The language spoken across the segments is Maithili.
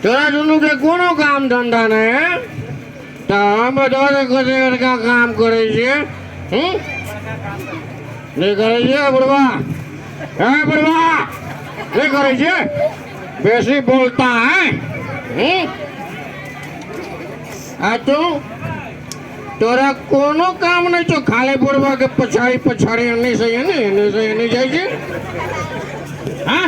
तोरा दुनूके कोनो काम धन्धा नहि है तऽ हम तोहर कते बड़का काम करै छियै हूँ नहि करै छियै बुढ़वा हे बुढ़वा नहि करै छियै बेसी बोलता है हूँ आ तू तोरा कोनो काम नहि छौ खाली बुढ़वा के पछाड़ी पछाड़ी एन्नी से एन्नी एन्नी से एन्नी जाइ छै हाँ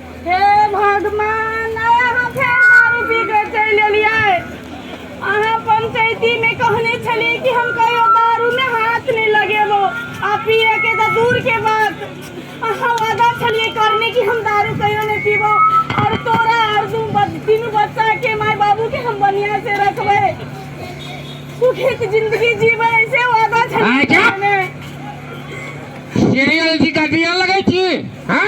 हे भगवान आइ अहाँ फेर दारू पी कऽ चलि एलियै अहाँ पंचायतीमे कहने छलियै कि हम कहियो दारूमे हाथ नहि लगेबो आ पियैके तऽ दूरके बात अहाँ वादा छलियै करने कि हम दारू कहियो नहि पीबो आओर तोरा आओर दू बच- तीनू बच्चाके माय बाबूके हम बढ़िआँ से रखबै सुखीके जिंदगी जीबै ऐसे वादा आँय, छलियै क्या? करने। सीरियल जी का दिया लगे छी हाँ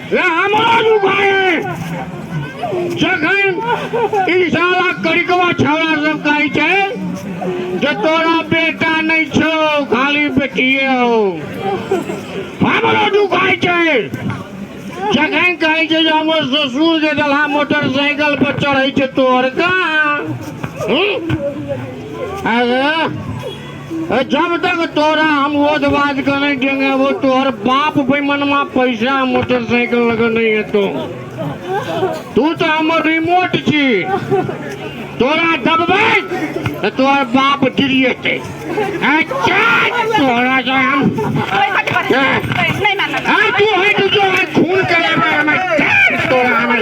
रहमान उभाए जखन इंशाल्लाह करिकवा छौड़ा सब कहै छै जे तोरा बेटा नहि छौ खाली बेटिए हो हमरो दुखाइ छै जखन कहै छै जे हमर ससुर जे देलहा मोटरसाइकिल पर चढ़ै छै तोहर कहाँ हूँ? अरे जब तक तोरा हम वोद वाद के नहीं देंगे वो तोहर बाप बेमनमा पैसा मोटरसाइकिल लगे नहीं है तो तू तो हमर रिमोट छी तोरा दबबै तो तोहर बाप गिरिएतै अच्छा तोरा से हम नहीं मानना हाँ तू है तो जो है खून करे में हमें तोरा हमें